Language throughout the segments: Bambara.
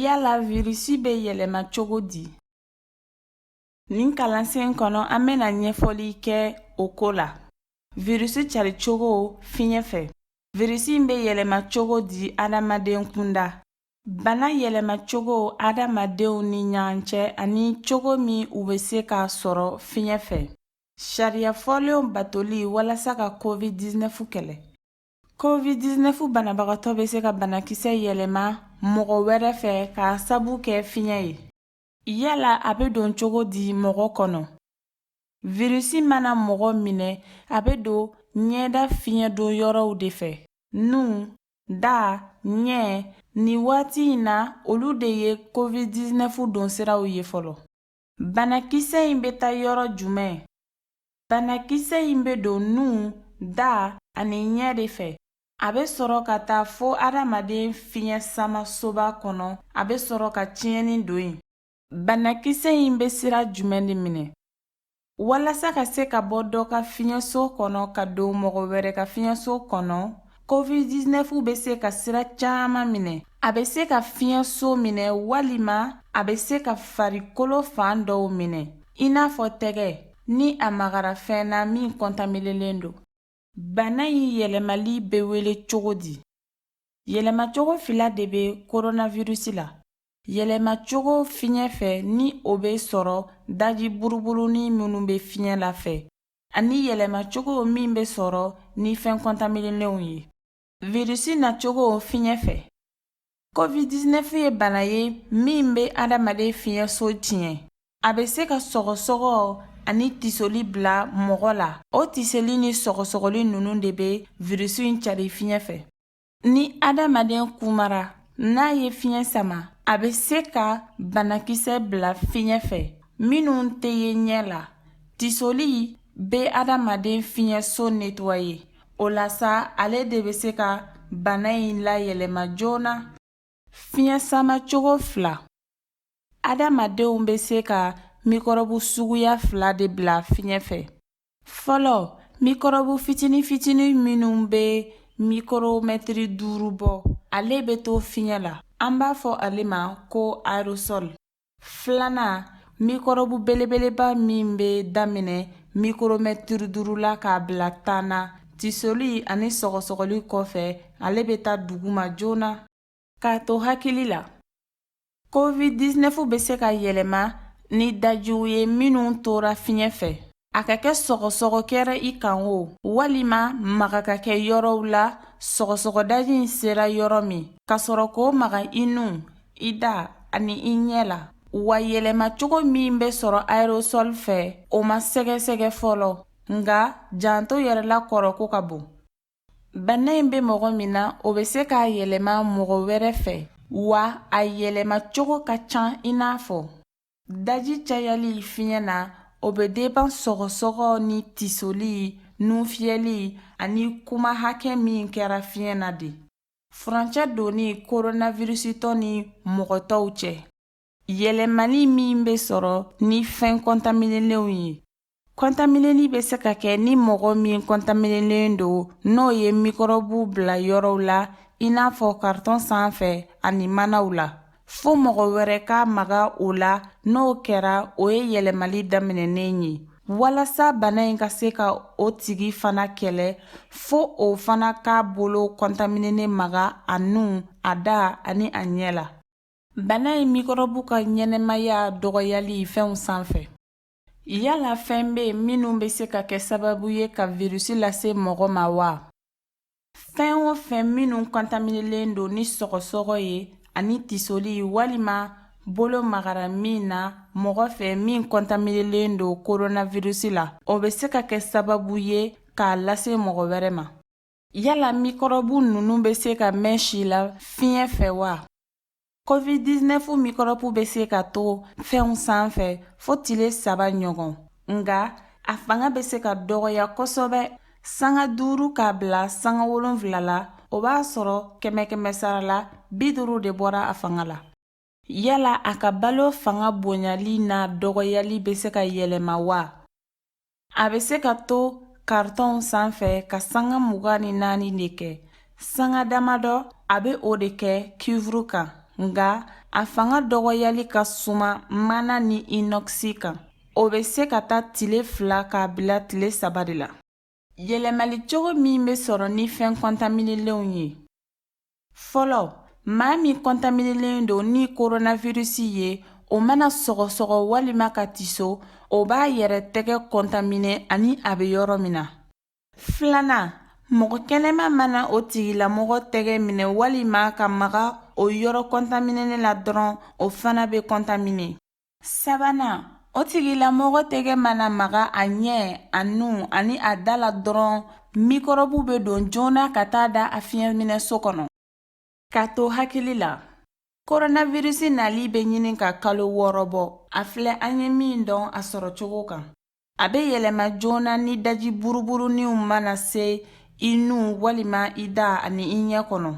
Yala virisi bɛ yɛlɛma cogo di? Nin kalansen kɔnɔ an bɛna ɲɛfɔli kɛ o ko la virisi cari cogo fiɲɛ fɛ virisi bɛ yɛlɛma cogo di adamaden kunda bana yɛlɛma cogo adamadenw ni ɲɔgɔn cɛ ani cogo min u bɛ se k'a sɔrɔ fiɲɛ fɛ sariya fɔlenw batoli walasa ka covid 19 kɛlɛ covid 19 banabagatɔ bɛ se ka banakisɛ yɛlɛma mɔgɔ wɛrɛ fɛ k'a sabu kɛ fiɲɛ ye Yala a bɛ don cogo di mɔgɔ kɔnɔ virisi mana mɔgɔ minɛ a bɛ don ɲɛda fiɲɛ don yɔrɔw de fɛ nu da ɲɛ nin waati in na olu de ye covid 19 don siraw ye fɔlɔ banakisɛ in bɛ taa yɔrɔ jumɛn banakisɛ in bɛ don nu da ani ɲɛ de fɛ A bɛ sɔrɔ ka taa fo adamaden fiɲɛ sama soba kɔnɔ a bɛ sɔrɔ ka tiɲɛni don yen banakisɛ in bɛ sira jumɛn de minɛ walasa ka se ka bɔ dɔ ka fiɲɛso kɔnɔ ka don mɔgɔ wɛrɛ ka fiɲɛso kɔnɔ covid-19 bɛ se ka sira caman minɛ a bɛ se ka fiɲɛso minɛ walima a bɛ se ka farikolo fan dɔw minɛ i n'a fɔ tɛgɛ ni a magara fɛn na min kɔntaminelen don Bana in yɛlɛmali bɛ wele cogo di? Yɛlɛmacogo fila de bɛ coronavirus la. Yɛlɛmacogo fiɲɛ fɛ ni o bɛ sɔrɔ daji buruburunin minnu bɛ fiɲɛ la fɛ, ani yɛlɛmacogo min bɛ sɔrɔ ni fɛn kɔntaminelenw ye. Virisi nacogo fiɲɛ fɛ COVID-19 ye bana ye min bɛ adamaden fiɲɛso tiɲɛ. A bɛ se ka sɔgɔsɔgɔ ani tisoli bila mɔgɔ la. O tisoli ni sɔgɔsɔgɔli ninnu de bɛ virisi in cari fiɲɛ fɛ. Ni adamaden kumara n'a ye fiɲɛ sama, a bɛ se ka banakisɛ bila fiɲɛ fɛ minnu tɛ ye ɲɛ la. Tisoli bɛ adamaden fiɲɛso netwaye. O la sa, ale de bɛ se ka bana in layɛlɛma joona. Fiɲɛ sama cogo fila. Adamadenw bɛ se ka mikɔrɔbu suguya fila de bila fiɲɛ fɛ. Fɔlɔ, mikɔrɔbu fitini fitini minnu bɛ mikoromɛtiri duuru bɔ, ale bɛ to fiɲɛ la. An b'a fɔ ale ma ko aerosol. filanan mikɔrɔbu belebeleba min bɛ daminɛ mikoromɛtiri duuru la k'a bila tan na tisoli ani sɔgɔsɔgɔli kɔfɛ ale bɛ taa duguma joona k'a to hakili la covid-19 bɛ se ka yɛlɛma ni dajiw ye minnu tora fiɲɛ fɛ a ka kɛ sɔgɔsɔgɔ kɛra i kan o walima maga ka kɛ yɔrɔw la sɔgɔsɔgɔdaji in sera yɔrɔ min ka sɔrɔ k'o maga i nu i da ani i ɲɛ la wa yɛlɛmacogo min bɛ sɔrɔ aerosol fɛ o ma sɛgɛsɛgɛ fɔlɔ nka janto yɛrɛ la kɔrɔ ko ka bon bana in bɛ mɔgɔ min na o bɛ se k'a yɛlɛma mɔgɔ wɛrɛ fɛ wa a yɛlɛmacogo ka ca i n'a fɔ Daji cayali fiɲɛ na o bɛ deban sɔgɔsɔgɔ ni tisoli nufiyɛli ani kuma hakɛ min kɛra fiɲɛ na de furancɛ donni koronavirisitɔ ni mɔgɔ tɔw cɛ yɛlɛmani min bɛ sɔrɔ ni fɛn kɔntaminelenw ye kɔntaminɛli bɛ se ka kɛ ni mɔgɔ min kɔntaminɛlen don n'o ye mikɔrɔbu bila yɔrɔw la i n'a fɔ karitɔn sanfɛ ani manaw la fo mɔgɔ wɛrɛ ka maga o la n'o kɛra o ye yɛlɛmali daminɛnen ye walasa bana in ka se ka o tigi fana kɛlɛ fo o fana k'a bolo kɔntaminɛnen maga a nu a da ani a ɲɛ la bana in mikɔrɔbu ka ɲɛnamaya dɔgɔyali fɛnw sanfɛ Yala fɛn bɛ yen minnu bɛ se ka kɛ sababu ye ka virus lase mɔgɔ ma wa? Fɛn o fɛn minnu kɔntaminelen don ni sɔgɔsɔgɔ ye ani tisoli walima bolo magara min na mɔgɔ fɛ min kɔntaminelen don coronavirus la, o bɛ se ka kɛ sababu ye k'a lase mɔgɔ wɛrɛ ma. Yala mikɔrɔbu ninnu bɛ se ka mɛn si la fiɲɛ fɛ wa? COVID-19 mikɔrɔbu bɛ se ka to fɛnw sanfɛ fo tile saba ɲɔgɔn, nka a fanga bɛ se ka dɔgɔya kosɛbɛ sanga duuru k'a bila sanga wolonwula la, o b'a sɔrɔ kɛmɛ-kɛmɛ sara la bi duuru de bɔra a fanga la. Yala a ka balo fanga bonyali n'a dɔgɔyali bɛ se ka yɛlɛma wa? A bɛ se ka to karitɔnw sanfɛ ka sanga mugan ni naani de kɛ. Sanga damadɔ a bɛ o de kɛ kuivuru kan, nka a fanga dɔgɔyali ka suma mana ni inɔkisi kan. O bɛ se ka taa tile fila k'a bila tile saba de la. Yɛlɛmali cogo min bɛ sɔrɔ ni fɛn kɔntaminelenw ye fɔlɔ maa min kɔntaminelen don ni koronavirisi ye o mana sɔgɔsɔgɔ walima ka tiso o b'a yɛrɛ tɛgɛ kɔntamine ani a bɛ yɔrɔ min na filanan mɔgɔ kɛnɛma mana o tigilamɔgɔ tɛgɛ minɛ walima ka maga o yɔrɔ kɔntaminenen la dɔrɔn o fana bɛ kɔntamine sabanan o tigilamɔgɔ tɛgɛ mana maga a ɲɛ a nu ani a da la dɔrɔn mikɔrɔbu bɛ don joona ka taa da a fiɲɛminɛso kɔnɔ ka to hakili la koronavirisi nali bɛ ɲini ka kalo wɔɔrɔ bɔ a filɛ an ye min dɔn a sɔrɔ cogo kan a bɛ yɛlɛma joona ni daji buruburuninw mana se i nu walima i da ani i ɲɛ kɔnɔ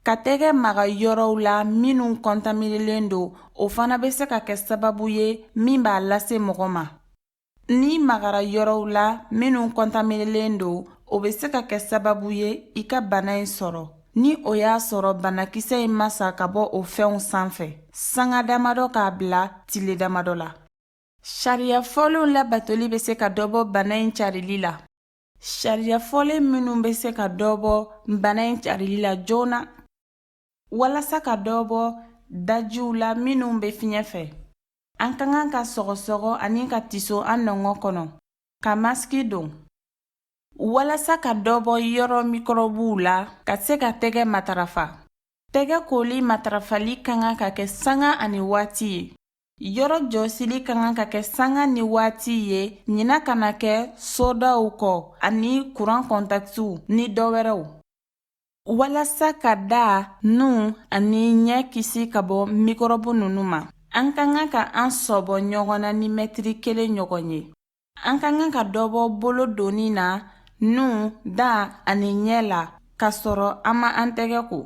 ka tɛgɛ maga yɔrɔw la minnu kɔntaminelen don o fana bɛ se ka kɛ sababu ye min b'a lase mɔgɔ ma n'i magara yɔrɔw la minnu kɔntaminelen don o bɛ se ka kɛ sababu ye i ka bana in sɔrɔ ni o y'a sɔrɔ banakisɛ in ma sa ka bɔ o fɛnw sanfɛ sanga damadɔ k'a bila tile damadɔ la sariya fɔlenw labatoli bɛ se ka dɔ bɔ bana in carili la Sariya fɔlen minnu bɛ se ka dɔ bɔ bana in carili la joona walasa ka dɔ bɔ dajiw la minnu bɛ fiɲɛ fɛ an ka kan ka sɔgɔsɔgɔ ani ka tiso an nɔngɔn kɔnɔ ka masiki don walasa ka dɔ bɔ yɔrɔ mikɔrɔbuw la ka se ka tɛgɛ matarafa tɛgɛ koli matarafali ka kan ka kɛ sanga ani waati ye Yɔrɔ jɔsili ka kan ka kɛ sanga ni waati ye ɲina kana kɛ sodaw kɔ ani kuran kɔntakitiw ni dɔ wɛrɛw walasa ka da nu ani ɲɛ kisi ka bɔ mikɔrɔbu ninnu ma an ka kan ka an sɔbɔ ɲɔgɔn na ni mɛtiri kelen ɲɔgɔn ye an ka kan ka dɔ bɔ bolo donni na nu da ani ɲɛ la k'a sɔrɔ an ma an tɛgɛ ko